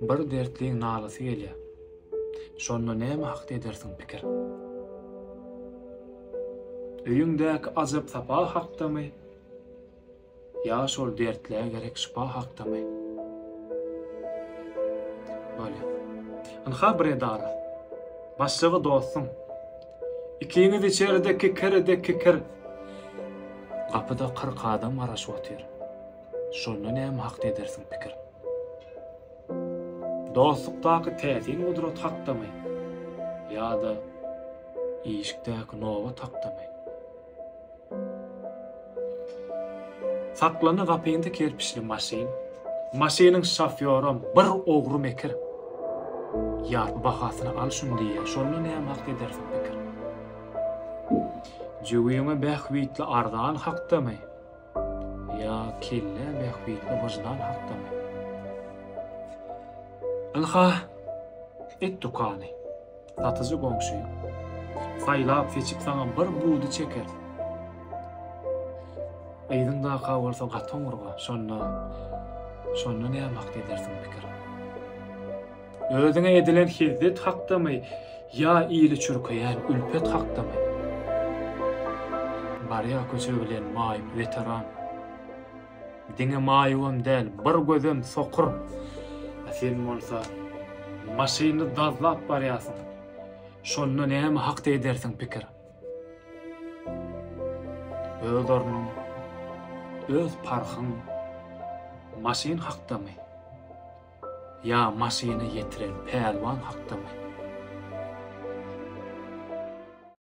Bir dertliň nalasy gelýär. Şonda näme hakda edersiň pikir? Öýüňdäki ajap-sapa hakdamy? Ýa şol dertlä gerek şypa hakdamy? Bolýar. Ynha bir edara. Başlygy dostuň. Ikiňiz içerde kikiride kikir. Gapyda kyrk adam garaşyp otyr. Şonda näme hakda edersiň pikir? Dostlukdaky täsin gudrat hakdamy ýa-da işikdäki nobat hakdamy? Saklana gapynda kerpiçli maşyn, maşynyň şofýoram bir ogry mekir. Ýarpy bahasyna al şuny diýýär, şonda näme hakda edersiň pikir? Jübüňe bähbitli arzan hakdamy? Ýa kelle bähbitli wyždan hakdamy? Ynha, et dükany. Satyjy goňşy. Saýlap-seçip saňa bir budy çeker. Yzyň daka bolsa gaty oňurga, şonda, şonda näme hak edersiň pikir. Özüňe edilen hizzet hakdamy ýa ili çürkeýän ülpet hakdamy? Barýa köçe bilen maýyp weteran. Diňe maýybam däl, bir gözem sokur. A sen bolsa maşyny dazlap barýarsyň. Şonda näme hakda edersiň pikir? Öz ornuň, öz parhyň maşyn hakdamy? Ýa maşyny ýetiren pälwan hakdamy?